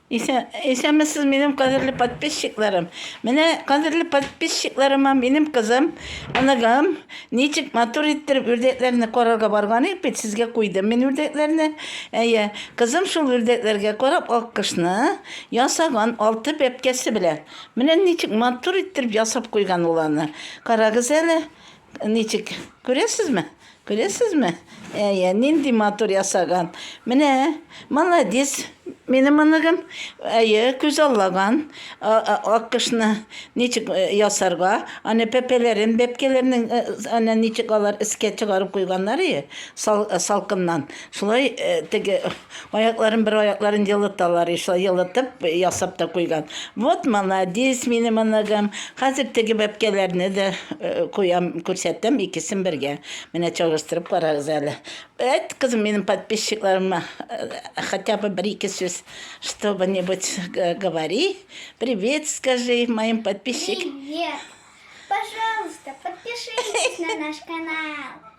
Исәнмесез, минем кадерле подписчикларым. Менә кадерле подписчикларыма минем кызым, оныгым Ничек матур иттереп үрдәкләрне карарга барган идек бит, сезгә куйдым мин үрдәкләрне. Әйе, кызым шул үрдәкләргә карап аккошны ясаган алты бәбкәсе белән. Менә ничек матур иттереп ясап куйган ул аны. Карагыз әле, ничек. Күрәсезме? Күрәсезме? Әйе, нинди матур ясаган. Менә, молодец, минем оныгым. Әйе, күз аллаган аккошны ничек э, ясарга. Аны пәпәләрен, бәпкәләрнең э, ана ничек алар искә чыгарып куйганнар ие, сал, э, салкыннан. Шулай теге Аякларын бер аякларын елыталар и шулай елытып ясап та куйган. Вот маладис минем оныгым. Хәзер теге бәбкәләрне дә куям, күрсәтәм икесен бергә. Менә чагыштырып карагыз әле. Әйт, кызым, минем подписчикларыма хотя бы бер ике сүз чтобы нибудь говори. Привет скажи моим подписчик. Привет. Пожалуйста, подпишитесь на наш канал.